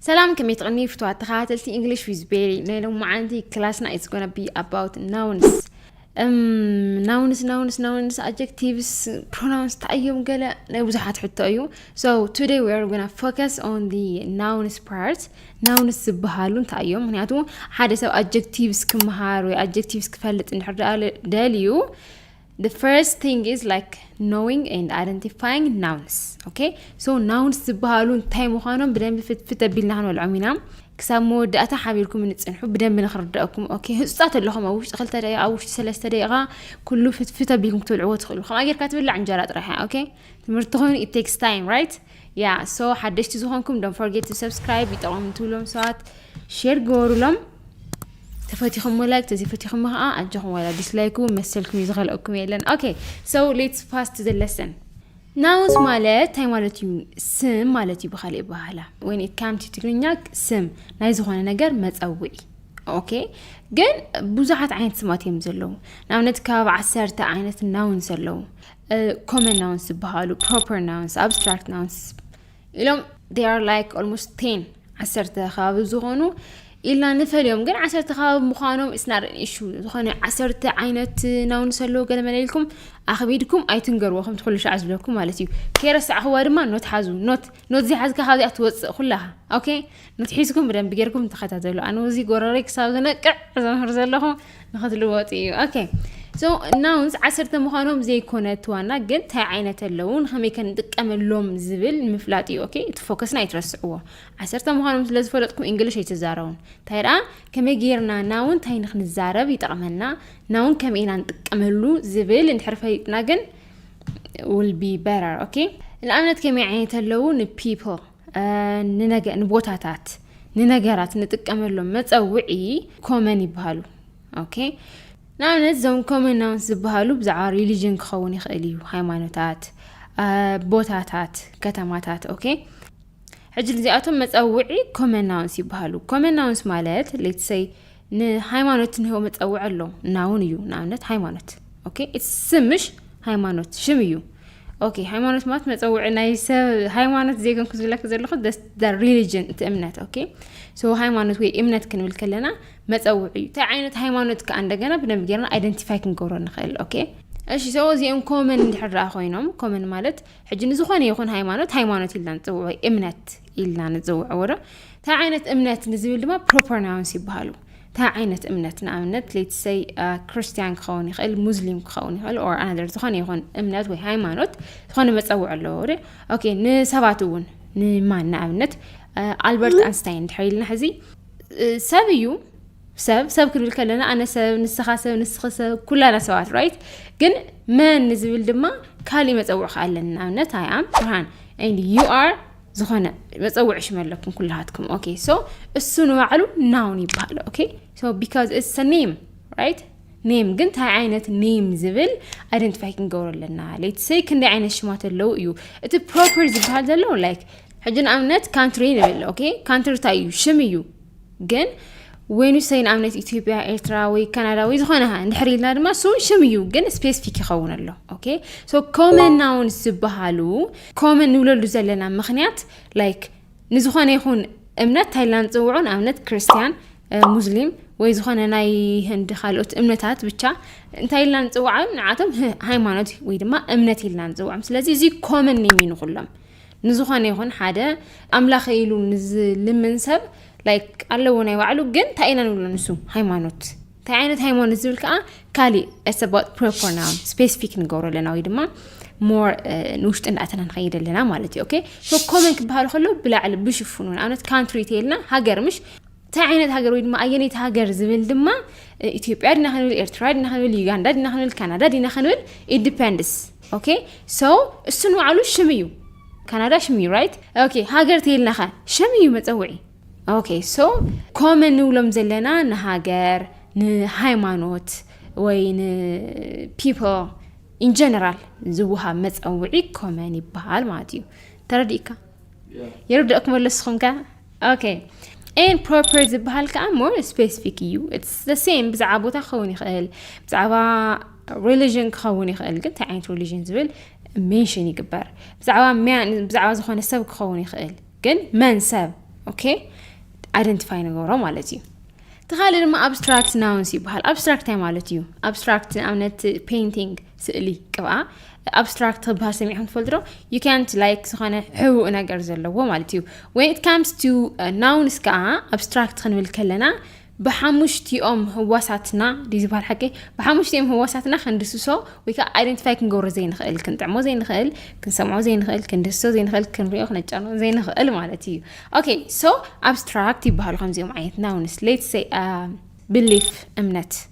ሰላም ከመይ ትቕኒ ፍትዋት ተኸታተልቲ ኢንግሊሽ ዊዝ ቤሪ ናይ ሎማዓንቲ ክላስና ኢትስ ጎነ ቢ ኣባውት ናውንስ ናውንስ ናውንስ ናውንስ ኣጀክቲቭስ ፕሮናውንስ ታእዮም ገለ ናይ ብዙሓት ሕቶ እዩ ሶ ቱደይ ዊ ኣር ጎና ፎከስ ኦን ዲ ናውንስ ፓርት ናውንስ ዝበሃሉ እንታይ እዮም ምክንያቱ ሓደ ሰብ ኣጀክቲቭስ ክምሃር ወይ ኣጀክቲቭስ ክፈልጥ እንድሕር ደልዩ The first thing is like knowing and identifying nouns. Okay? So nouns ዝበሃሉ እንታይ ምዃኖም ብደንቢ ፍትፍት ኣቢልና ክንበልዖም ኢና ክሳብ መወዳእታ ሓቢርኩም ንፅንሑ ብደንቢ ንክርዳእኩም ኦኬ ህፁፃት ኣለኹም ኣብ ውሽጢ ክልተ ደቂቃ ኣብ ውሽጢ ሰለስተ ደቂቃ ኩሉ ፍትፍት ኣቢልኩም ክትበልዕዎ ትኽእሉ ከምኣ ጌርካ ትብላዕ እንጀራ ጥራሕ እያ ኦኬ ትምህርቲ ኮይኑ ኢት ቴክስ ታይም ራይት ያ ሶ ሓደሽቲ ዝኾንኩም ዶን ፎርጌት ቱ ሰብስክራይብ ይጠቕሞም ትብሎም ሰባት ሼር ገበሩሎም ተፈቲኹም ላይክ ተዘይፈቲኹም ከዓ ኣጆኹም ዋላ ዲስላይክ እውን መሰልኩም እዩ ዝኸልአኩም የለን ኦኬ ሶ ሌትስ ፋስት ዘ ለሰን ናውስ ማለት እንታይ ማለት እዩ ስም ማለት እዩ ብካሊእ ባህላ ወይ ካምቲ ትግርኛ ስም ናይ ዝኾነ ነገር መፀውዒ ኦኬ ግን ብዙሓት ዓይነት ስማት እዮም ዘለዉ ንኣብነት ከባቢ ዓሰርተ ዓይነት ናውንስ ኣለዉ ኮመን ናውንስ ዝበሃሉ ፕሮፐር ናውንስ ኣብስትራክት ናውንስ ኢሎም ር ላይክ ኦልሞስት ቴን ዓሰርተ ከባቢ ዝኾኑ ኢልና ንፈልዮም ግን ዓሰርተ ከባቢ ምዃኖም ስናርን ኢሹ ዝኾነ ዓሰርተ ዓይነት ናውንስ ኣለዎ ገለ መለልኩም ኣኽቢድኩም ኣይትንገርዎ ከም ትኩሉ ሻዕ ዝብለኩም ማለት እዩ ከይረሳዕኽዋ ድማ ኖት ሓዙ ኖት ኖት ዘይሓዝካ ካብዚኣ ትወፅእ ኩላኻ ኦኬ መትሒዝኩም ብደንቢ ጌርኩም ተኸታተሉ ኣነ እዚ ጎረረይ ክሳብ ዝነቅዕ ዘምህር ዘለኹ ንክትልወጡ እዩ ኦኬ ሶ ናውንስ ዓሰርተ ምዃኖም ዘይኮነት ዋና ግን እንታይ ዓይነት ኣለዉ ንኸመይ ከንጥቀመሎም ዝብል ምፍላጥ እዩ ኦኬ እቲ ፎከስና ኣይትረስዕዎ ዓሰርተ ምዃኖም ስለ ዝፈለጥኩም እንግሊሽ ኣይትዛረቡን እንታይ ደኣ ከመይ ጌርና ናውን እንታይ ንክንዛረብ ይጠቕመና ናውን ከመይ ኢና ንጥቀመሉ ዝብል እንድሕር ፈሊጥና ግን ውል ቢ በረር ኦኬ ንኣብነት ከመይ ዓይነት ኣለዉ ንፒፕል ንቦታታት ንነገራት ንጥቀመሎም መፀውዒ ኮመን ይበሃሉ ኦኬ ንኣብነት እዞም ኮመን ናውንስ ዝበሃሉ ብዛዕባ ሪሊጅን ክኸውን ይኽእል እዩ ሃይማኖታት ቦታታት ከተማታት ኦኬ ሕጂ እዚኣቶም መፀውዒ ኮመን ናውንስ ይበሃሉ ኮመን ናውንስ ማለት ሌትሰይ ንሃይማኖት እንሆ መፀውዒ ኣሎ ናውን እዩ ንኣብነት ሃይማኖት ኦኬ ስም ምሽ ሃይማኖት ሽም እዩ ኦኬ ሃይማኖት ማለት መፀውዒ ናይ ሰብ ሃይማኖት ዘይኮንኩ ዝብለክ ዘለኹ ሪሊጅን እቲ እምነት ኦኬ ሶ ሃይማኖት ወይ እምነት ክንብል ከለና መፀውዒ እዩ እንታይ ዓይነት ሃይማኖት ከዓ እንደገና ብደንብ ጌርና ኣይደንቲፋይ ክንገብሮ ንኽእል ኦኬ እሺ ሰው እዚኦም ኮመን እንድሕር ኮይኖም ኮመን ማለት ሕጂ ንዝኾነ ይኹን ሃይማኖት ሃይማኖት ኢልና ንፅውዖ እምነት ኢልና ንጽውዕዎ ዶ እንታይ ዓይነት እምነት ንዝብል ድማ ፕሮፐር ናውንስ ይበሃሉ እንታይ ዓይነት እምነት ንኣብነት ሌትሰይ ክርስትያን ክኸውን ይኽእል ሙስሊም ክኸውን ይኽእል ኦር ኣነር ዝኾነ ይኹን እምነት ወይ ሃይማኖት ዝኾነ መፀውዕ ኣለዎ ዶ ኦኬ ንሰባት እውን ንማን ንኣብነት ኣልበርት ኣንስታይን ድሕር ኢልና ሕዚ ሰብ እዩ ሰብ ሰብ ክንብል ከለና ኣነ ሰብ ንስኻ ሰብ ንስኺ ሰብ ኩላና ሰባት ራይት ግን መን ንዝብል ድማ ካልእ መፀውዕ ከኣለን ንኣብነት ኣይ ኣም ብርሃን ዩ ኣር ዝኾነ መፀውዒ ሽም ኣለኩም ኩላሃትኩም ኦኬ ሶ እሱ ንባዕሉ ናውን ይበሃል ኦኬ ሶ ቢካዝ እስ ኔም ራይት ኔም ግን እንታይ ዓይነት ኔም ዝብል ኣይደንቲፋይ ክንገብሮ ኣለና ሌት ሰይ ክንደይ ዓይነት ሽማት ኣለዉ እዩ እቲ ፕሮፐር ዝበሃል ዘሎ ላይክ ሕጂ ንኣብነት ካንትሪ ንብል ኦኬ ካንትሪ እንታይ እዩ ሽም እዩ ግን ወይኑ ሰይን ኣብነት ኢትዮጵያ ኤርትራ ወይ ካናዳ ወይ ዝኾነ እንድሕር ኢልና ድማ ስውን ሽም እዩ ግን ስፔሲፊክ ይኸውን ኣሎ ኦኬ ሶ ኮመን ናውንስ ዝበሃሉ ኮመን ንብለሉ ዘለና ምክንያት ላይክ ንዝኾነ ይኹን እምነት ታይላ ንፅውዑ ንኣብነት ክርስትያን ሙስሊም ወይ ዝኾነ ናይ ህንዲ ካልኦት እምነታት ብቻ እንታይ ኢልና ንፅውዓ ንዓቶም ሃይማኖት ወይ ድማ እምነት ኢልና ንፅውዖም ስለዚ እዚ ኮመን ኔም እዩ ንኩሎም ንዝኾነ ይኹን ሓደ ኣምላኸ ኢሉ ንዝልምን ሰብ ላይክ ኣለዎ ናይ ባዕሉ ግን እንታይ ኢና ንብሎ ንሱ ሃይማኖት እንታይ ዓይነት ሃይማኖት ዝብል ከዓ ካሊእ ሰባት ፕሮፖርናውን ስፔሲፊክ ንገብሮ ኣለና ወይ ድማ ሞር ንውሽጢ እንዳእተና ንኸይድ ኣለና ማለት እዩ ኦኬ ኮመን ክበሃል ከሎ ብላዕሊ ብሽፉኑ ንኣብነት ካንትሪ ተይልና ሃገር ምሽ እንታይ ዓይነት ሃገር ወይ ድማ ኣየነይቲ ሃገር ዝብል ድማ ኢትዮጵያ ዲና ክንብል ኤርትራ ዲና ክንብል ዩጋንዳ ዲና ክንብል ካናዳ ዲና ክንብል ኢንዲፐንድስ ኦኬ ሶ እሱ ንባዕሉ ሽም እዩ ካናዳ ሽም እዩ ራይት ኦኬ ሃገር ተይልናኸ ሽም እዩ መፀውዒ ኦኬ ሶ ኮመን ንብሎም ዘለና ንሃገር ንሃይማኖት ወይ ንፒፕል ኢንጀነራል ዝውሃብ መፀውዒ ኮመን ይበሃል ማለት እዩ ተረዲእካ የርድእኩም ኣለስኹም ከ ኦኬ ኤን ፕሮፐር ዝበሃል ከዓ ሞር ስፔሲፊክ እዩ ሴም ብዛዕባ ቦታ ክኸውን ይኽእል ብዛዕባ ሪሊዥን ክኸውን ይኽእል ግን እንታይ ዓይነት ሪሊዥን ዝብል ሜንሽን ይግበር ብዛዕባ ብዛዕባ ዝኾነ ሰብ ክኸውን ይኽእል ግን መን ሰብ ኦኬ ኣይደንቲፋይ ንገብሮ ማለት እዩ እቲ ካልእ ድማ ኣብስትራክት ናውንስ ይበሃል ኣብስትራክት እንታይ ማለት እዩ ኣብስትራክት ንኣብነት ፔይንቲንግ ስእሊ ቅብኣ ኣብስትራክት ክበሃል ሰሚዕኩም ትፈልጡ ዶ ዩ ካንት ላይክ ዝኾነ ሕቡእ ነገር ዘለዎ ማለት እዩ ወን ኢት ካምስ ቱ ናውንስ ከዓ ኣብስትራክት ክንብል ከለና ብሓሙሽቲኦም ህዋሳትና ድዩ ዝበሃል ሓቂ ብሓሙሽቲኦም ህዋሳትና ክንድስሶ ወይ ከዓ ኣይደንቲፋይ ክንገብሮ ዘይንኽእል ክንጥዕሞ ዘይንኽእል ክንሰምዖ ዘይንኽእል ክንድስሶ ዘይንኽእል ክንሪኦ ክነጫኖ ዘይንኽእል ማለት እዩ ኦኬ ሶ ኣብስትራክት ይበሃሉ ከምዚኦም ዓይነት ናውንስ ሌትስ ቢሊፍ እምነት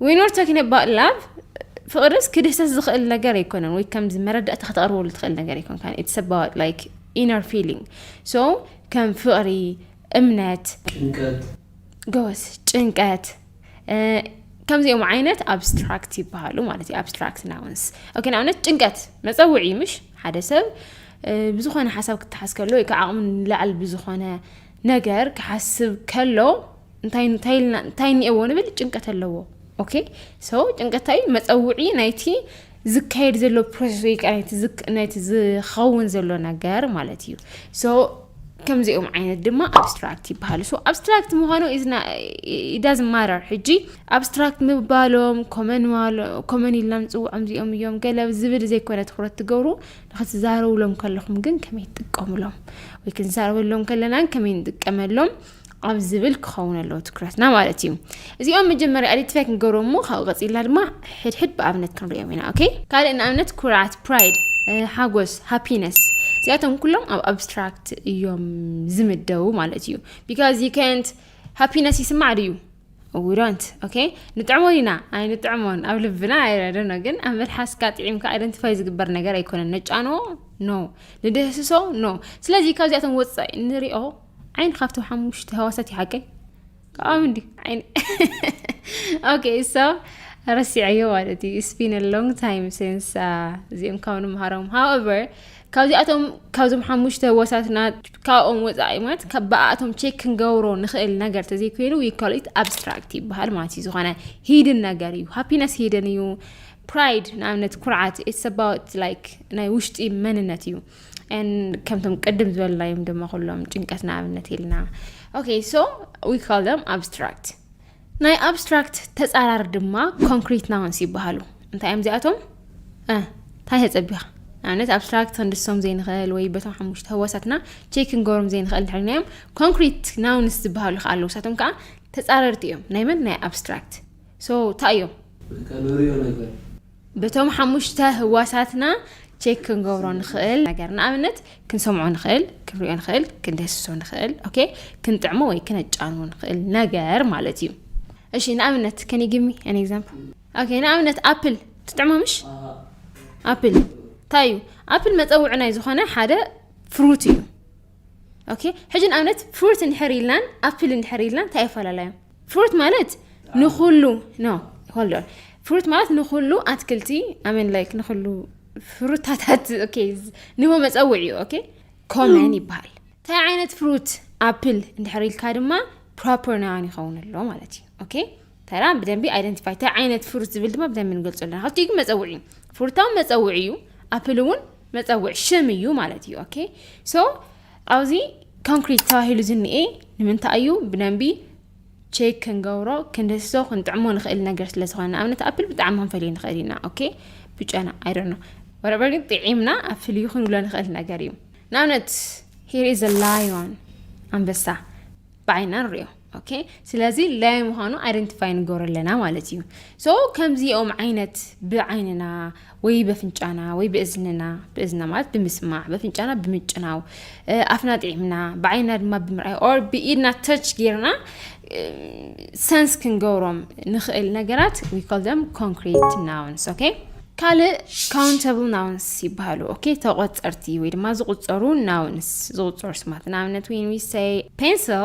We not talking about love ፍቕርስ ክድህሰስ ዝኽእል ነገር ኣይኮነን ወይ ከምዚ መረዳእታ ከተቕርበሉ ትኽእል ነገር ኣይኮንካን ኢትስ ኣባውት ላይክ ኢነር ፊሊንግ ሶ ከም ፍቕሪ እምነት ጭንቀት ጎበዝ ጭንቀት ከምዚኦም ዓይነት ኣብስትራክት ይበሃሉ ማለት እዩ ኣብስትራክት ናውንስ ኦኬ ንኣብነት ጭንቀት መፀውዒ ምሽ ሓደ ሰብ ብዝኾነ ሓሳብ ክትሓዝ ከሎ ወይ ከዓ ዓቕሙ ንላዕል ብዝኾነ ነገር ክሓስብ ከሎ እንታይ እንታይ ኢልና እንታይ እኒኤዎ ንብል ጭንቀት ኣለዎ ኦኬ ሶ ጭንቀት እንታይ እዩ መፀውዒ ናይቲ ዝካየድ ዘሎ ፕሮሰስ ወይ ከዓ ናይቲ ዝክ- ናይቲ ዝኸውን ዘሎ ነገር ማለት እዩ ሶ ከምዚኦም ዓይነት ድማ ኣብስትራክት ይበሃሉ ሶ ኣብስትራክት ምዃኑ ዳዝ ማረር ሕጂ ኣብስትራክት ምባሎም ኮመን ኢልና ንፅውዖም እዚኦም እዮም ገለ ዝብል ዘይኮነ ትኩረት ትገብሩ ንክትዛረቡሎም ከለኹም ግን ከመይ ትጥቀሙሎም ወይ ክንዛረበሎም ከለናን ከመይ ንጥቀመሎም ኣብ ዝብል ክኸውን ኣለዎ ትኩረትና ማለት እዩ እዚኦም መጀመርያ ኣዲትፋይ ክንገብሮም እሞ ካብኡ ቀፂልና ድማ ሕድሕድ ብኣብነት ክንሪኦም ኢና ኦኬ ካልእ ንኣብነት ኩርዓት ፕራይድ ሓጎስ ሃፒነስ እዚኣቶም ኩሎም ኣብ ኣብስትራክት እዮም ዝምደቡ ማለት እዩ ቢካዝ ዩ ከንት ሃፒነስ ይስማዕ ድዩ we don't okay ንጥዕሞ ኢና ኣይንጥዕሞን ኣብ ልብና ኣይረደኖ ግን ኣብ መልሓስካ ጥዒምካ ኣይደንቲፋይ ዝግበር ነገር ኣይኮነን ነጫኖ ኖ ንድህስሶ ኖ ስለዚ ካብዚኣቶም ወፃኢ ንሪኦ ዓይን ካብቲ ሓሙሽተ ህዋሳት ይሓቀይ ካብኦም እንዲ ዓይን ኦኬ ሶ ረሲዐዮ ማለት እዩ ስፒን ሎንግ ታይም ሲንስ እዚኦም ካብ ንምሃሮም ሃወቨር ካብዚኣቶም ካብዞም ሓሙሽተ ወሳትና ካብኦም ወፃኢ ማለት ካብ ብኣኣቶም ቼክ ክንገብሮ ንኽእል ነገር ተዘይኮይኑ ዊኮሊት ኣብስትራክት ይበሃል ማለት እዩ ዝኾነ ሂድን ነገር እዩ ሃፒነስ ሂድን እዩ ፕራይድ ንኣብነት ኩርዓት ኢትስ ኣባውት ላይክ ናይ ውሽጢ መንነት እዩ ከምቶም ቅድም ዝበልናዮም ድማ ኩሎም ጭንቀት ንኣብነት ኢልና ኦኬ ሶ ዊ ካል ደም ኣብስትራክት ናይ ኣብስትራክት ተጻራር ድማ ኮንክሪት ናውንስ ይበሃሉ እንታይ እዮም እዚኣቶም እንታይ ተጸቢኻ ንኣብነት ኣብስትራክት ክንድሶም ዘይንኽእል ወይ በቶም ሓሙሽተ ህዋሳትና ቼክ ክንገብሮም ዘይንኽእል ድሕርና እዮም ኮንክሪት ናውንስ ዝበሃሉ ከዓ ኣለዉ ሳቶም ከዓ ተፃረርቲ እዮም ናይ መን ናይ ኣብስትራክት ሶ እንታይ እዮም በቶም ሓሙሽተ ህዋሳትና ቼክ ክንገብሮ ንኽእል ነገር ንኣብነት ክንሰምዖ ንኽእል ክንሪኦ ንኽእል ክንደስሶ ንኽእል ኦኬ ክንጥዕሞ ወይ ክነጫኑ ንኽእል ነገር ማለት እዩ እሺ ንኣብነት ከን ግሚ ኣን ኤግዛምፕል ኦኬ ንኣብነት ኣፕል ትጥዕሞ ምሽ ኣፕል እንታይ እዩ ኣፕል መፀውዒ ናይ ዝኾነ ሓደ ፍሩት እዩ ኦኬ ሕጂ ንኣብነት ፍሩት እንድሕር ኢልናን ኣፕል እንድሕር ኢልናን እንታይ ይፈላለዮም ፍሩት ማለት ንኩሉ ኖ ሆልድ ኦን ፍሩት ማለት ንኩሉ ኣትክልቲ ኣሜን ላይክ ንኩሉ ፍሩታታት ኦኬ ንህቦ መፀውዒ እዩ ኦኬ ኮመን ይበሃል እንታይ ዓይነት ፍሩት ኣፕል እንድሕር ኢልካ ድማ ፕሮፐር ናውን ይኸውን ኣሎ ማለት እዩ ኦኬ ተራ ብደንቢ ኣይደንቲፋይ እንታይ ዓይነት ፍሩት ዝብል ድማ ብደንቢ ንገልፆ ኣለና ካብቲ ግን መፀውዒ እዩ ፍሩታዊ መፀውዒ እዩ ኣፕል እውን መፀውዒ ሽም እዩ ማለት እዩ ኦኬ ሶ ኣብዚ ኮንክሪት ተባሂሉ ዝኒኤ ንምንታይ እዩ ብደንቢ ቼክ ክንገብሮ ክንደስሶ ክንጥዕሞ ንኽእል ነገር ስለ ዝኾነ ንኣብነት ኣፕል ብጣዕሚ ክንፈልዩ ንኽእል ኢና ኦኬ ብጨና ኣይደኖ ወረበር ግን ጥዒምና ኣብ ፍልዩ ክንብሎ ንኽእል ነገር እዩ ንኣብነት ሂር ኢዝ ላዮን ኣንበሳ ብዓይና ንሪኦ ኦኬ ስለዚ ለያይ ምዃኑ ኣይደንቲፋይ ንገብሮ ኣለና ማለት እዩ ሶ ከምዚኦም ዓይነት ብዓይንና ወይ በፍንጫና ወይ ብእዝንና ብእዝና ማለት ብምስማዕ በፍንጫና ብምጭናው ኣፍና ጥዒምና ብዓይንና ድማ ብምርኣይ ኦር ብኢድና ተች ጌርና ሰንስ ክንገብሮም ንኽእል ነገራት ዊኮል ደም ኮንክሪት ናውንስ ኦኬ ካልእ ካውንተብል ናውንስ ይበሃሉ ኦኬ ተቆፀርቲ ወይ ድማ ዝቁፀሩ ናውንስ ዝቁፀሩ ስማት ንኣብነት ወይን ዊሰይ ፔንስል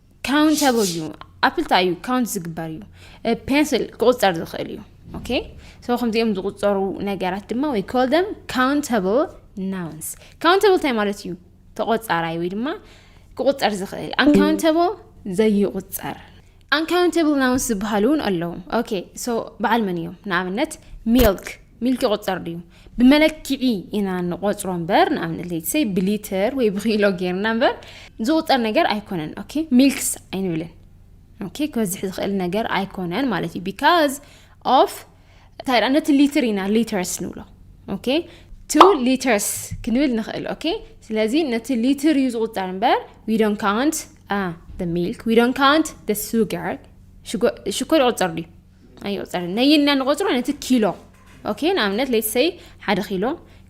ካውንተብል እዩ ኣፕል እንታይ እዩ ካውንት ዝግበር እዩ ፔንስል ክቁፀር ዝኽእል እዩ ኦኬ ሰው ከምዚኦም ዝቁፀሩ ነገራት ድማ ወይ ኮል ደም ካውንተብል ናውንስ ካውንተብል እንታይ ማለት እዩ ተቆፃራይ ወይ ድማ ክቁፀር ዝኽእል ኣንካውንተብል ዘይቁፀር ኣንካውንተብል ናውንስ ዝበሃሉ እውን ኣለዉ ኦኬ ሶ በዓል መን እዮም ንኣብነት ሚልክ ሚልክ ይቁፀር ድዩ ብመለክዒ ኢና ንቆጽሮ እምበር ንኣብነት ለይትሰይ ብሊትር ወይ ብኪሎ ጌርና እምበር ዝቁጸር ነገር ኣይኮነን ኦኬ ሚልክስ ኣይንብልን ኦኬ ክበዝሕ ዝኽእል ነገር ኣይኮነን ማለት እዩ ቢካዝ ኦፍ እንታይ ደኣ ነቲ ሊትር ኢና ሊተርስ ንብሎ ኦኬ ቱ ሊተርስ ክንብል ንኽእል ኦኬ ስለዚ ነቲ ሊትር እዩ ዝቁፀር እምበር ዊ ዶን ካውንት ሚልክ ዊ ዶን ካውንት ሱጋር ሽኮር ይቁፀር ድዩ ኣዮ ጸር ነይ ኢልና ንቆጽሮ ነቲ ኪሎ ኦኬ ንኣብነት ለይት ሰይ ሓደ ኪሎ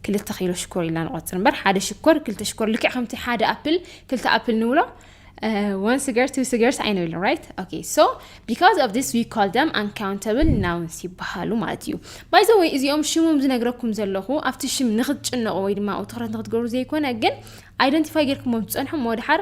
ክልተ ኪሎ ሽኮር ኢልና ንቆጽር እምበር ሓደ ሽኮር ክልተ ሽኮር ልክዕ ከምቲ ሓደ ኣፕል ክልተ ኣፕል ንብሎ ዋን ስገር ቱ ስገርስ ኣይንብልን ራይት ኦኬ ሶ ቢካዝ ኦፍ ዲስ ዊ ኮል ደም ኣንካውንተብል ናውንስ ይበሃሉ ማለት እዩ ባይዘ ወይ እዚኦም ሽሞም ዝነግረኩም ዘለኹ ኣብቲ ሽም ንክትጭነቑ ወይ ድማ ትኽረት ንክትገብሩ ዘይኮነ ግን ኣይደንቲፋይ ጌርኩሞ ትፀንሑ መወድሓር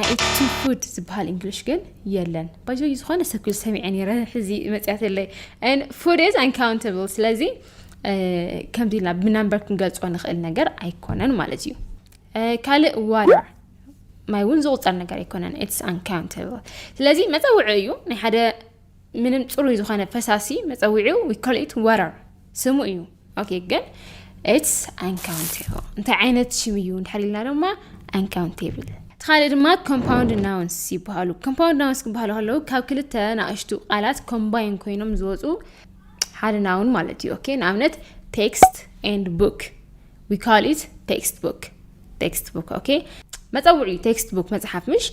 ኣይቲ ፉድ ዝበሃል እንግሊሽ ግን የለን ባይዞ ዝኾነ ሰብ ክብል ሰሚዐ ነረ ሕዚ መፅያትለይ ፉድ ኢዝ ኣንካውንታብል ስለዚ ከምዚ ኢልና ብናምበር ክንገልፆ ንኽእል ነገር ኣይኮነን ማለት እዩ ካልእ ዋተር ማይ እውን ዝቁፀር ነገር ኣይኮነን ኢትስ ኣንካውንታብል ስለዚ መፀውዒ እዩ ናይ ሓደ ምንም ፅሩይ ዝኾነ ፈሳሲ መፀዊዒው ዊኮሊት ዋተር ስሙ እዩ ኦኬ ግን ኢትስ ኣንካውንቴብል እንታይ ዓይነት ሽም እዩ እንድሕር ኢልና ድማ ኣንካውንቴብል እቲ ካልእ ድማ ኮምፓውንድ ናውንስ ይበሃሉ ኮምፓውንድ ናውንስ ክበሃሉ ከለዉ ካብ ክልተ ናእሽቱ ቃላት ኮምባይን ኮይኖም ዝወፁ ሓደ ናውን ማለት እዩ ኦኬ ንኣብነት ቴክስት ኤንድ ቡክ ዊ ካል ኢት ቴክስት ቡክ ቴክስት ቡክ ኦኬ መፀውዒ ቴክስት ቡክ መፅሓፍ ምሽ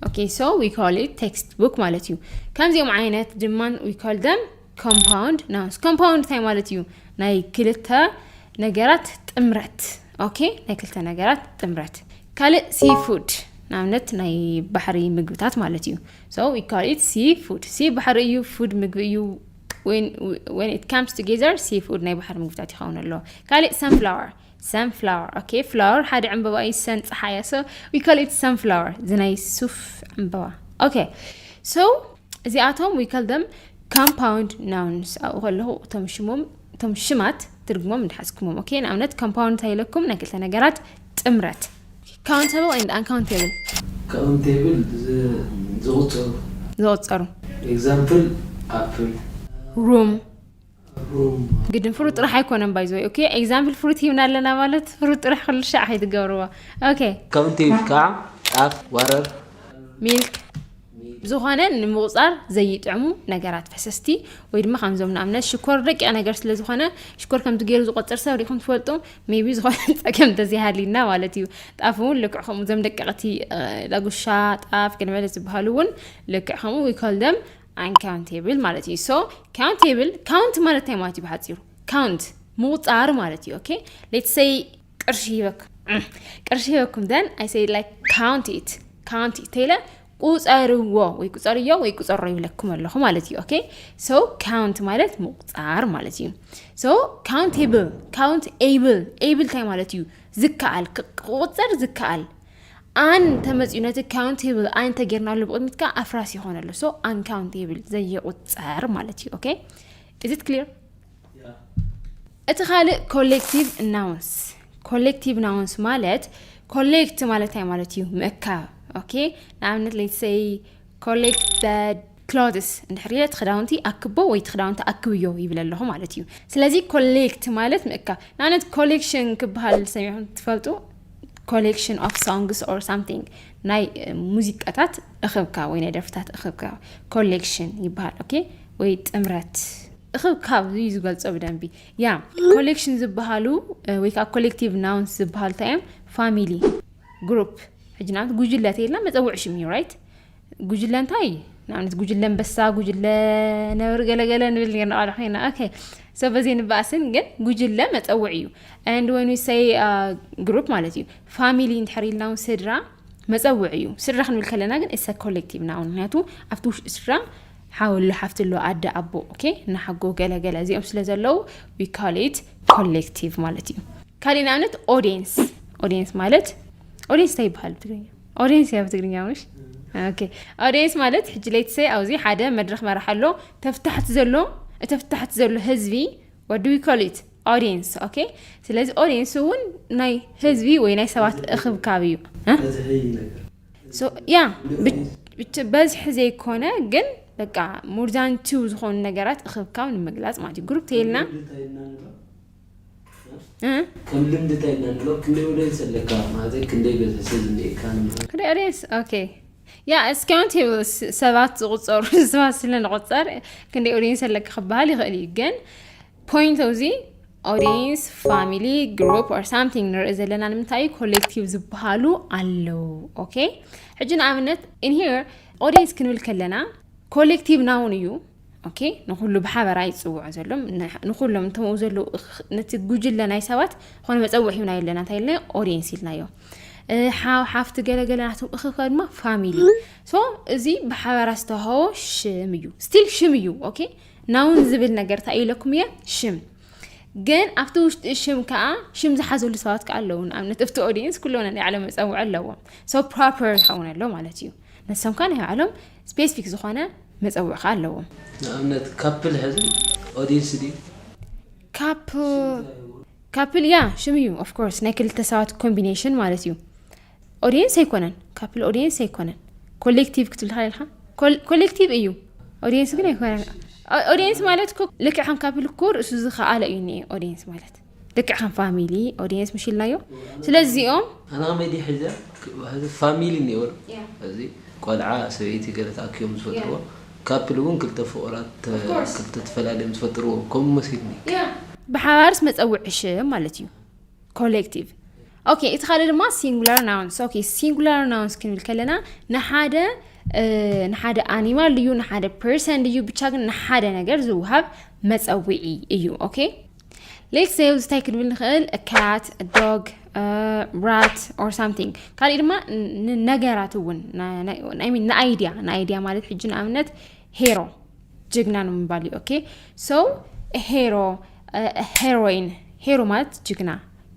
ኦኬ ሶ ዊ ካል ኢት ቴክስት ቡክ ማለት እዩ ከምዚኦም ዓይነት ድማ ዊ ካል ደም ኮምፓውንድ ናውንስ ኮምፓውንድ እንታይ ማለት እዩ ናይ ክልተ ነገራት ጥምረት ኦኬ ናይ ክልተ ነገራት ጥምረት ካልእ ሲ ፉድ ንኣብነት ናይ ባሕሪ ምግብታት ማለት እዩ ሶ ዊ ካል ኢት ሲ ፉድ ሲ ባሕሪ እዩ ፉድ ምግቢ እዩ ወን ኢት ካምስ ቱጌዘር ሲ ፉድ ናይ ባሕሪ ምግብታት ይኸውን ኣሎ ካልእ ሰንፍላወር Sunflower okay flower ሓደ ዕምበባ እዩ ሰን ፀሓያ so we call it sunflower እዚ ናይ ሱፍ ዕምበባ okay so እዚኣቶም we call them compound nouns ኣብኡ ከለኹ እቶም ሽሞም እቶም ሽማት ትርጉሞም እንዳሓዝኩሞም ኦኬ ንኣብነት ኮምፓውንድ እንታይ ኢለኩም ናይ ክልተ ነገራት ጥምረት ካውንተብል ኤንድ ኣንካውንተብል ካውንተብል ዝቁፀሩ ዝቁፀሩ ኤግዛምፕል ኣፕል ሩም ግድን ፍሩት ጥራሕ ኣይኮነን ባይ ዝወይ ኦኬ ኤግዛምፕል ፍሩት ሂብና ኣለና ማለት ፍሩት ጥራሕ ኩሉ ሻዕ ከይትገብርዎ ኦኬ ከምቲ ከዓ ጣፍ ወረር ሚልክ ዝኾነ ንምቁፃር ዘይጥዕሙ ነገራት ፈሰስቲ ወይ ድማ ከምዞም ንኣብነት ሽኮር ደቂቕ ነገር ስለ ዝኾነ ሽኮር ከምዚ ገይሩ ዝቆፅር ሰብ ሪኢኹም ትፈልጡ ሜቢ ዝኾነ ፀገም እንተዘይሃልዩና ማለት እዩ ጣፍ እውን ልክዕ ከምኡ እዞም ደቀቕቲ ዳጉሻ ጣፍ ገለመለ ዝበሃሉ እውን ልክዕ ከምኡ ይከልደም ኣንካውንቴብል ማለት እዩ ሶ ካውንቴብል ካውንት ማለት እንታይ ማለት እዩ ብሓፂሩ ካውንት ምቁፃር ማለት እዩ ኦኬ ሌትስ ሰይ ቅርሺ ሂበኩም ቅርሺ ሂበኩም ደን ኣይ ሰይ ላይክ ካውንት ኢት ካውንት ኢት ተይለ ቁፀርዎ ወይ ቁፀርዮ ወይ ቁፀሮ ይብለኩም ኣለኹ ማለት እዩ ኦኬ ሶ ካውንት ማለት ምቁፃር ማለት እዩ ሶ ካውንቴብል ካውንት ኤብል ኤብል እንታይ ማለት እዩ ዝከኣል ክቁፀር ዝከኣል ኣን እንተመፅኡ ነቲ ካውንት ቴብል ኣይ እንተጌርናሉ ብቕድሚት ከዓ ኣፍራስ ይኾነሉ ሶ ኣን ካውንት ቴብል ዘይቁፀር ማለት እዩ ኦኬ ኢዝ ኢት ክሊር እቲ ካልእ ኮሌክቲቭ ናውንስ ኮሌክቲቭ ናውንስ ማለት ኮሌክት ማለት እንታይ ማለት እዩ ምእካብ ኦኬ ንኣብነት ሌትሰይ Collect the clothes እንድሕር ኢለ እቲ ክዳውንቲ ኣክቦ ወይ እቲ ክዳውንቲ ኣክብዮ ይብል ኣለኹ ማለት እዩ ስለዚ ኮሌክት ማለት ምእካብ ንኣብነት ኮሌክሽን ክበሃል ሰሚዕኩም ትፈልጡ ኮሌክሽን ኦፍ ሶንግስ ኦር ሳምቲንግ ናይ ሙዚቃታት እኽብካብ ወይ ናይ ደርፍታት እኽብካብ ኮሌክሽን ይበሃል ኦኬ ወይ ጥምረት እኽብካብ እዩ ዝገልጾ ብደንቢ ያ ኮሌክሽን ዝበሃሉ ወይ ከዓ ኮሌክቲቭ ናውንስ ዝበሃሉ እንታይ እዮም ፋሚሊ ግሩፕ ሕጂ ንኣብነት ጉጅለ ተይልና መፀውዒ ሽም እዩ ራይት ጉጅለ እንታይ ንኣብነት ጉጅለ ኣንበሳ ጉጅለ ነብሪ ገለገለ ንብል ኔርና ቃልዕ ኮይና ኦኬ ሰ በዘይ ንበኣስን ግን ጉጅለ መፀውዒ እዩ ንድ ወይኑ ሰይ ግሩፕ ማለት እዩ ፋሚሊ እንድሕር ኢልና እውን ስድራ መፀውዒ እዩ ስድራ ክንብል ከለና ግን እሰ ኮሌክቲቭ ና ውን ምክንያቱ ኣብቲ ውሽጢ ስድራ ሓወሎ ሓፍትሎ ኣደ ኣቦ ኦኬ ናሓጎ ገለገለ እዚኦም ስለ ዘለዉ ዊካሌት ኮሌክቲቭ ማለት እዩ። ካሊእ ንኣብነት ኦዲየንስ ኦዲየንስ ማለት ኦዲየንስ እንታይ ይበሃል ብትግርኛ? ኦዲየንስ እያ ብትግርኛ ምሽ ኦዲየንስ ማለት ሕጂ ለይትሰ ኣብዚ ሓደ መድረክ መራሕ ኣሎ ተፍታሕቲ ዘሎ እተፍታሕቲ ዘሎ ህዝቢ ወዲ ዊኮሊት ኦዲየንስ ኦኬ ስለዚ ኦዲየንስ እውን ናይ ህዝቢ ወይ ናይ ሰባት እክብካብ እዩ ያ ብበዝሒ ዘይኮነ ግን በቃ ሙርዛን ቲው ዝኾኑ ነገራት እኽብካብ ንምግላፅ ማለት እዩ ግሩፕ ተይልና ከም ልምዲ እንታይ ኢና ንብሎ ክንደይ ወደንስ ኣለካ ማለት ክንደይ በዝሒ ዝኒኤካ ክንደይ ኦኬ ያ እስካውን ቴብል ሰባት ዝቁፀሩ ሰባት ስለንቁፀር ክንደይ ኦዲየንስ ኣለካ ክበሃል ይኽእል እዩ ግን ፖይንት ኦፍ ዚ ኦዲየንስ ፋሚሊ ግሩፕ ኦር ሳምቲንግ ንርኢ ዘለና ንምንታይ እዩ ኮሌክቲቭ ዝበሃሉ ኣለዉ ኦኬ ሕጂ ንኣብነት ኢንሄር ኦዲየንስ ክንብል ከለና ኮሌክቲቭ ናውን እዩ ኦኬ ንኩሉ ብሓበራ ይፅውዑ ዘሎም ንኩሎም እቶም ኣብኡ ዘለዉ ነቲ ጉጅለ ናይ ሰባት ዝኾነ መፀውዒ ሂብና የለና እንታይ ኢልና ኦዲየንስ ኢልናዮ ሓው ሓፍቲ ገለገለ ናቶም እኽከ ድማ ፋሚሊ ሶ እዚ ብሓበራ ዝተዋህቦ ሽም እዩ ስቲል ሽም እዩ ኦኬ ናውን ዝብል ነገር እንታይ ኢለኩም እየ ሽም ግን ኣብቲ ውሽጢ ሽም ከዓ ሽም ዝሓዘሉ ሰባት ከዓ ኣለዉ ንኣብነት እብቲ ኦዲየንስ ኩሎም ናይ ባዕሎም መፀውዒ ኣለዎም ሶ ፕሮፐር ዝኸውን ኣሎ ማለት እዩ ንሶም ከዓ ናይ ባዕሎም ስፔሲፊክ ዝኾነ መፀውዒ ከዓ ኣለዎም ንኣብነት ካፕል ሕዚ ኦዲየንስ ድዩ ካፕል ካፕል ያ ሽም እዩ ኦፍኮርስ ናይ ክልተ ሰባት ኮምቢኔሽን ማለት እዩ ኦድየንስ ኣይኮነን ካፕል ኦድየንስ ኣይኮነን ኮሌክቲቭ ክትብል ትኽእል ኢልካ ኮሌክቲቭ እዩ ኦድየንስ ግን ኣይኮነን ኦድየንስ ማለት እኮ ልክዕ ከም ካፕል እኮ ርእሱ ዝኸኣለ እዩ እኒኤ ኦድየንስ ማለት ልክዕ ከም ፋሚሊ ኦድየንስ ምሽ ኢልናዮ ስለዚኦም ኣነ ከመይ ድየ ሒዘ ሕዚ ፋሚሊ እኒኦ ዶ Yeah. እዚ ቆልዓ ሰበይቲ ገለ ተኣኪቦም ዝፈጥርዎ ካፕል እውን ክልተ ፍቑራት ተ- Of course. ክልተ ተፈላለዮም ዝፈጥርዎ ከምኡ መሲልኒ ብሓባርስ መፀውዒ ሽም ማለት እዩ ኮሌክቲቭ ኦኬ እቲ ካልእ ድማ ሲንጉላር ናውንስ ኦኬ ሲንጉላር ናውንስ ክንብል ከለና ንሓደ ንሓደ ኣኒማል እዩ ንሓደ ፐርሰን እዩ ብቻ ግን ንሓደ ነገር ዝውሃብ መፀውዒ እዩ ኦኬ ሌትስ ሴይ እዚ እንታይ ክንብል ንኽእል ካት ዶግ ራት ኦር ሳምቲንግ ካልእ ድማ ነገራት እውን ንኣይድያ ንኣይድያ ማለት ሕጂ ንኣብነት ሄሮ ጅግና ነው የሚባል ኦኬ ሰው ሄሮ ሄሮይን ሄሮ ማለት ጅግና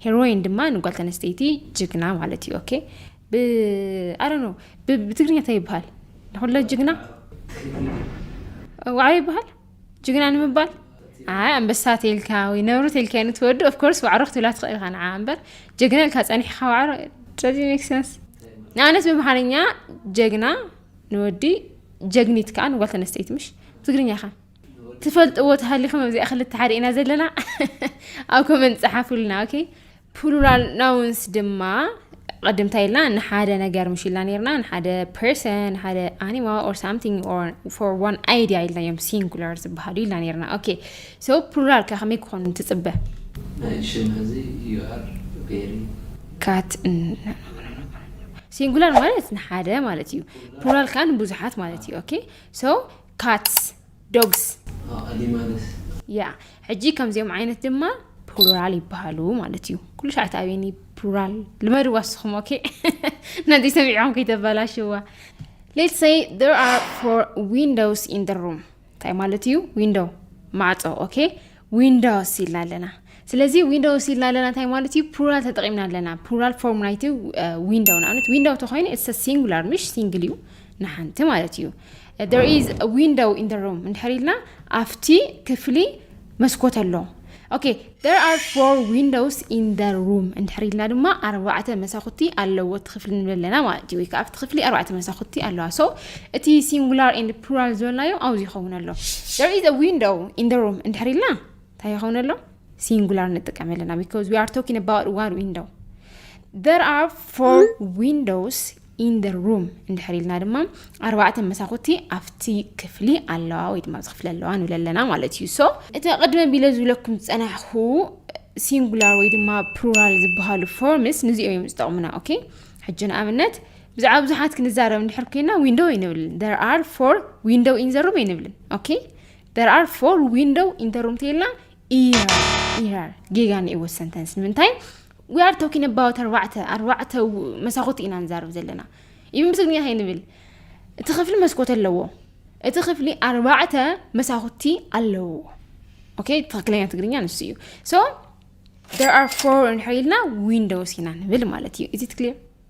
ሄሮይን ድማ ንጓል ተነስተይቲ ጅግና ማለት እዩ ኦኬ ኣረ ነው ብትግርኛ እንታይ ይበሃል ንኩለ ጅግና ዋዕሮ ይበሃል ጅግና ንምባል ኣይ ኣንበሳ ተልካ ወይ ነብሪ ተልካ ንትወዱ ኦፍኮርስ ዋዕሮ ክትብላ ትኽእል ኢኻ ንዓ እምበር ጀግና ኢልካ ፀኒሕካ ዋዕሮ ስለዚ ሜክሰንስ ንኣብነት ብምሓርኛ ጀግና ንወዲ ጀግኒት ከዓ ንጓል ተነስተይቲ ምሽ ትግርኛ ከ ትፈልጥዎ ተሃሊኹም ኣብዚኣ ክልተ ሓደ ኢና ዘለና ኣብ ኮመንት ፀሓፉልና ኦኬ ፕሉራል ናውንስ ድማ ቅድም እንታይ ኢልና ንሓደ ነገር ምሽ ኢልና ነርና ንሓደ ፐርሰን ሓደ ኣኒማ ኦር ሳምቲንግ ኦር ፎር ዋን ኣይድያ ኢልና እዮም ሲንጉላር ዝበሃሉ ኢልና ነርና ኦኬ ሶ ፕሉራል ከ ከመይ ክኾኑ ትፅበ ካት ሲንጉላር ማለት ንሓደ ማለት እዩ ፕሉራል ከኣ ንብዙሓት ማለት እዩ ኦኬ ሶ ካትስ ዶግስ ያ ሕጂ ከምዚኦም ዓይነት ድማ ፕሉራል ይበሃሉ ማለት እዩ ኩሉ ሻዕ ተኣብየኒ ፕሉራል ልመድዋ ንስኹም ኦኬ ነዚ ሰሚዖም ከይተበላሽዋ ሌት ሰይ ር ኣር ፎር ዊንዶውስ ኢን ሩም እንታይ ማለት እዩ ዊንዶው ማዕፆ ኦኬ ዊንዶውስ ኢልና ኣለና ስለዚ ዊንዶውስ ኢልና ኣለና እንታይ ማለት እዩ ፕሉራል ተጠቂምና ኣለና ፕሉራል ፎርም ናይቲ ዊንዶው ንኣብነት ዊንዶው ተኮይኑ ኢትስ ሲንጉላር ምሽ ሲንግል እዩ ንሓንቲ ማለት እዩ there is a window in the room እንድሕር ኢልና ኣብቲ ክፍሊ መስኮት ኣሎ ኦኬ there are four windows in the room እንድሕር ኢልና ድማ ኣርባዕተ መሳኹቲ ኣለዎ እቲ ክፍሊ ንብለና ማለት እዩ ወይ ከዓ ኣብቲ ክፍሊ ኣርባዕተ መሳኹቲ ኣለዋ ሶ እቲ ሲንጉላር ኤንድ ፕሉራል ዝበልናዮ ኣብዚ ይኸውን ኣሎ there is a window in the room እንድሕር ኢልና እንታይ ይኸውን ኣሎ ሲንጉላር ንጥቀም ኣለና because we are talking about one window there are four windows in the room እንድሕር ኢልና ድማ ኣርባዕተ መሳኹቲ ኣብቲ ክፍሊ ኣለዋ ወይ ድማ ኣብዚ ክፍሊ ኣለዋ ንብል ኣለና ማለት እዩ ሶ እቲ ቅድመ ቢለ ዝብለኩም ዝፀናሕኩ ሲንጉላር ወይ ድማ ፕሉራል ዝበሃሉ ፎርምስ ንዚኦ እዮም ዝጠቕሙና ኦኬ ሕጂ ንኣብነት ብዛዕባ ብዙሓት ክንዛረብ እንድሕር ኮይና ዊንዶው ኣይንብልን ደር ኣር ፎር ዊንዶው ኢን ዘሩም ኣይንብልን ኦኬ ደር ኣር ፎር ዊንዶው ኢን ዘሩም ተይልና ኢራር ኢራር ጌጋ ንእዎ ሰንተንስ ንምንታይ ዊ ኣር ቶኪን ኣባውት ኣርባዕተ ኣርባዕተ መሳኹቲ ኢና ንዛረብ ዘለና ኢብን ብትግርኛ እንታይ ንብል እቲ ክፍሊ መስኮት ኣለዎ እቲ ክፍሊ ኣርባዕተ መሳኹቲ ኣለዎ ኦኬ ትክክለኛ ትግርኛ ንሱ እዩ ሶ ደር ኣር ፎር እንድሕር ኢልና ዊንዶውስ ኢና ንብል ማለት እዩ ኢዚ ትክሊር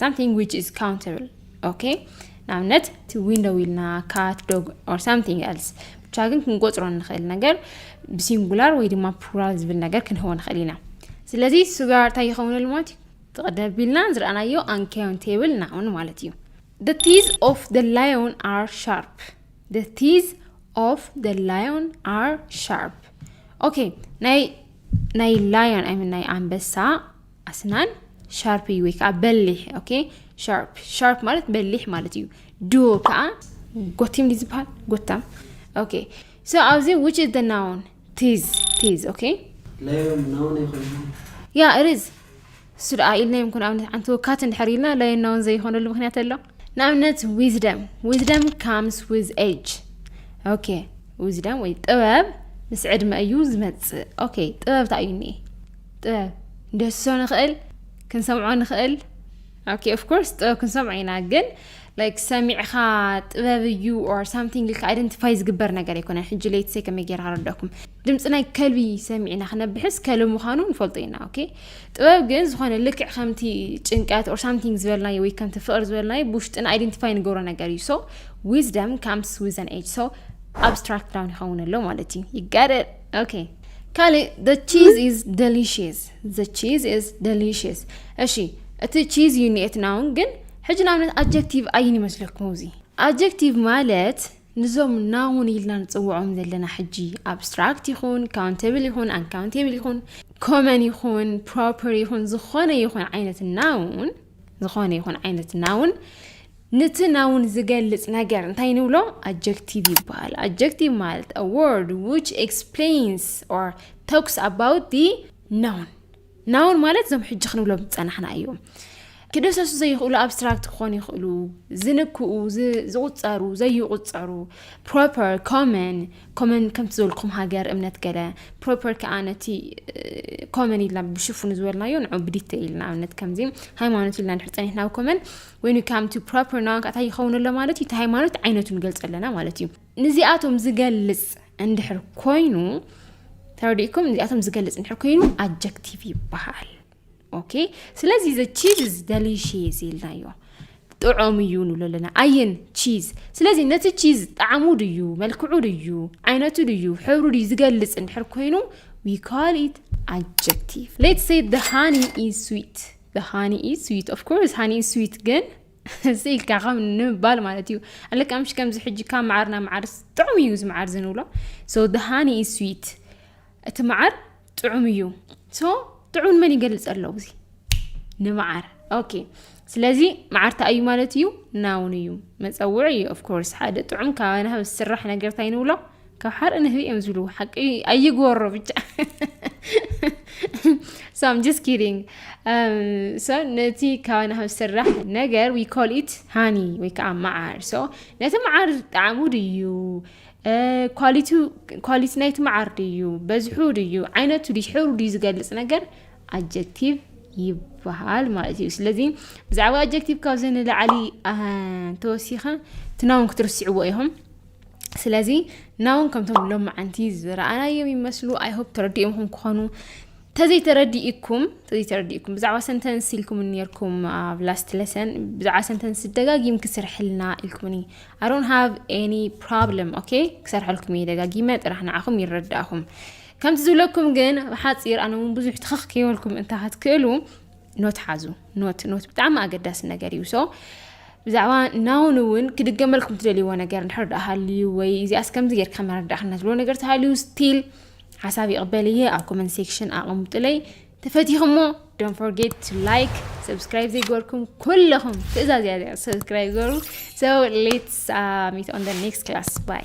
ሳምቲንግ ዊች ኢዝ ካውንተብል ኦኬ ንኣብነት እቲ ዊንዶው ኢልና ካት ዶግ ኦር ሳምቲንግ ኤልስ ብቻ ግን ክንቆፅሮ ንኽእል ነገር ብሲንጉላር ወይ ድማ ፕሉራል ዝብል ነገር ክንህቦ ንኽእል ኢና ስለዚ ስጋር እንታይ ይኸውንል ማለት እዩ ትቕደም ቢልና ዝረኣናዮ ኣንካውንቴብል ናውን ማለት እዩ The teeth of the lion are sharp. The teeth of the lion are sharp. ኦኬ ናይ ናይ ላዮን ኣይ ናይ ኣንበሳ ኣስናን ሻርፕ እዩ ወይ ከዓ በሊሕ ኦኬ ሻርፕ ሻርፕ ማለት በሊሕ ማለት እዩ ዶ ከዓ ጎቲም ድዩ ዝበሃል ጎታም ኦኬ ሶ ኣብዚ ዊች ኢዝ ደ ናውን ቲዝ ቲዝ ኦኬ ለዮም ናውን ይኮይኑ ያ ርዝ እሱ ደኣ ኢልናዮም ኩን ኣብነት ሓንቲ ወካት እንድሕር ኢልና ለዮም ናውን ዘይኮነሉ ምክንያት ኣሎ ንኣብነት ዊዝደም ዊዝደም ካምስ ዊዝ ኤጅ ኦኬ ዊዝደም ወይ ጥበብ ምስ ዕድመ እዩ ዝመፅእ ኦኬ ጥበብ እንታይ እዩ እኒኤ ጥበብ ንድህስሶ ንኽእል ክንሰምዖ ንኽእል ኦኬ ኦፍ ኮርስ ጥበብ ክንሰምዖ ኢና ግን ላይክ ሰሚዕኻ ጥበብ እዩ ኦር ሳምቲንግ ኢልካ ኣይደንቲፋይ ዝግበር ነገር ኣይኮነን ሕጂ ለይትሰይ ከመይ ጌር ክረዳኩም ድምፂ ናይ ከልቢ ሰሚዕና ክነብሕስ ከልቢ ምዃኑ ንፈልጦ ኢና ኦኬ ጥበብ ግን ዝኾነ ልክዕ ከምቲ ጭንቀት ኦር ሳምቲንግ ዝበልናዮ ወይ ከምቲ ፍቕሪ ዝበልናዮ ብውሽጥና ኣይደንቲፋይ ንገብሮ ነገር እዩ ሶ ዊዝደም ካምስ ዊዘን ኤጅ ሶ ኣብስትራክት ዳውን ይኸውን ኣሎ ማለት እዩ ይጋደል ኦኬ ካልእ the cheese is delicious the cheese is delicious እሺ እቲ ቺዝ እዩ ኒኤት ናውን ግን ሕጂ ንኣብነት ኣጀክቲቭ ኣይን ይመስለኩም እዚ ኣጀክቲቭ ማለት ንዞም ናውን ኢልና ንፅውዖም ዘለና ሕጂ ኣብስትራክት ይኹን ካውንተብል ይኹን ኣንካውንቴብል ይኹን ኮመን ይኹን ፕሮፐር ይኹን ዝኾነ ይኹን ዓይነት ናውን ዝኾነ ይኹን ዓይነት ናውን ነቲ ናውን ዝገልጽ ነገር እንታይ ንብሎ ኣጀክቲቭ ይበሃል ኣጀክቲቭ ማለት a word which explains or talks about the noun ናውን ማለት እዞም ሕጂ ክንብሎም ዝጸናሕና እዮም ክደሰሱ ዘይኽእሉ ኣብስትራክት ክኾኑ ይኽእሉ ዝንክኡ ዝቑፀሩ ዘይቑፀሩ ፕሮፐር ኮመን ኮመን ከምቲ ዝበልኩም ሃገር እምነት ገለ ፕሮፐር ከኣ ነቲ ኮመን ኢልና ብሽፉኑ ዝበልናዮ ንዑ ብዲተይል ንኣብነት ከምዚ ሃይማኖት ኢልና ድሕር ጸኒሕና ኣብ ኮመን ወይኑ ካምቲ ፕሮፐር ናውን ከኣታ ይኸውን ኣሎ ማለት እዩ እቲ ሃይማኖት ዓይነቱ ንገልጸ ኣለና ማለት እዩ ንዚኣቶም ዝገልጽ እንድሕር ኮይኑ ተረዲእኩም ንዚኣቶም ዝገልጽ እንድሕር ኮይኑ ኣጀክቲቭ ይበሃል ኦኬ ስለዚ ዘ ቺዝ ኢዝ ደሊሽየስ ኢልናዮ ጥዑም እዩ ንብሎ ኣለና ኣየን ቺዝ ስለዚ ነቲ ቺዝ ጣዕሙ ድዩ መልክዑ ድዩ ዓይነቱ ድዩ ሕብሩ ድዩ ዝገልጽ እንድሕር ኮይኑ ዊ ካል ኢት ኣጀክቲቭ ሌት ሴ ደ ሃኒ ኢዝ ስዊት ደ ሃኒ ኢዝ ስዊት ኦፍ ኮርስ ሃኒ ኢዝ ስዊት ግን ስኢልካ ከም ንምባል ማለት እዩ ኣለካ ምሽ ከምዚ ሕጂ ካብ መዓርና መዓር ጥዑም እዩ እዚ መዓር ዝንብሎ ሶ ደ ሃኒ ኢዝ ስዊት እቲ መዓር ጥዑም እዩ ሶ ጥዑም ንመን ይገልፅ ኣሎ እዚ ንመዓር ኦኬ ስለዚ መዓር እንታይ እዩ ማለት እዩ ናውን እዩ መፀውዒ እዩ ኦፍኮርስ ሓደ ጥዑም ካብ ናህብ ዝስራሕ ነገር እንታይ ንብሎ ካብ ሓርኢ ንህቢ እዮም ዝብሉ ሓቂ ኣይግበሮ ብቻ so I'm just kidding um, so ነቲ ካብ ናህብ ዝስራሕ ነገር we call it ሃኒ ወይ ከዓ መዓር so ነቲ መዓር ጣዕሙ ድዩ ኳሊቱ ኳሊቲ ናይቲ መዓር ድዩ በዝሑ ድዩ ዓይነቱ ድዩ ሕብሩ ድዩ ዝገልጽ ነገር ኣጀክቲቭ ይበሃል ማለት እዩ ስለዚ ብዛዕባ ኣጀክቲቭ ካብዚ ንላዕሊ ተወሲኸ ትናውን ክትርስዕዎ ኢኹም ስለዚ ናውን ከምቶም ሎም መዓንቲ ዝረኣናዮም ይመስሉ ኣይሆፕ ተረዲኦምኹም ክኾኑ ተዘይተረዲኢኩም ተዘይተረዲኢኩም ብዛዕባ ሰንተንስ ኢልኩም ነርኩም ኣብ ላስት ለሰን ብዛዕባ ሰንተንስ ደጋጊም ክስርሕልና ኢልኩምኒ ኣሮን ሃቭ ኤኒ ፕሮብለም ኦኬ ክሰርሐልኩም እየ ደጋጊመ ጥራሕ ንዓኹም ይረዳእኹም ከምቲ ዝብለኩም ግን ብሓፂር ኣነ እውን ብዙሕ ትኽኽ ከይበልኩም እንታ ክትክእሉ ኖት ሓዙ ኖት ኖት ብጣዕሚ ኣገዳሲ ነገር እዩ ሶ ብዛዕባ ናውን እውን ክድገመልኩም ትደልይዎ ነገር እንድሕር ድኣ ሃልዩ ወይ እዚኣስ ከምዚ ጌርካ መረዳእካ ትብሎ ነገር ተሃልዩ ስቲል ሓሳብ ይቕበል እየ ኣብ ኮመንት ሴክሽን ኣቐምጡለይ ተፈቲኹሞ ዶን ፎርጌት ቱ ላይክ ሰብስክራይብ ዘይገበርኩም ኩለኹም ትእዛዝ እያ እዚኣ ሰብስክራይብ ገበሩ ሶ ሌትስ ሚት ኦን ደ ኔክስት ክላስ ባይ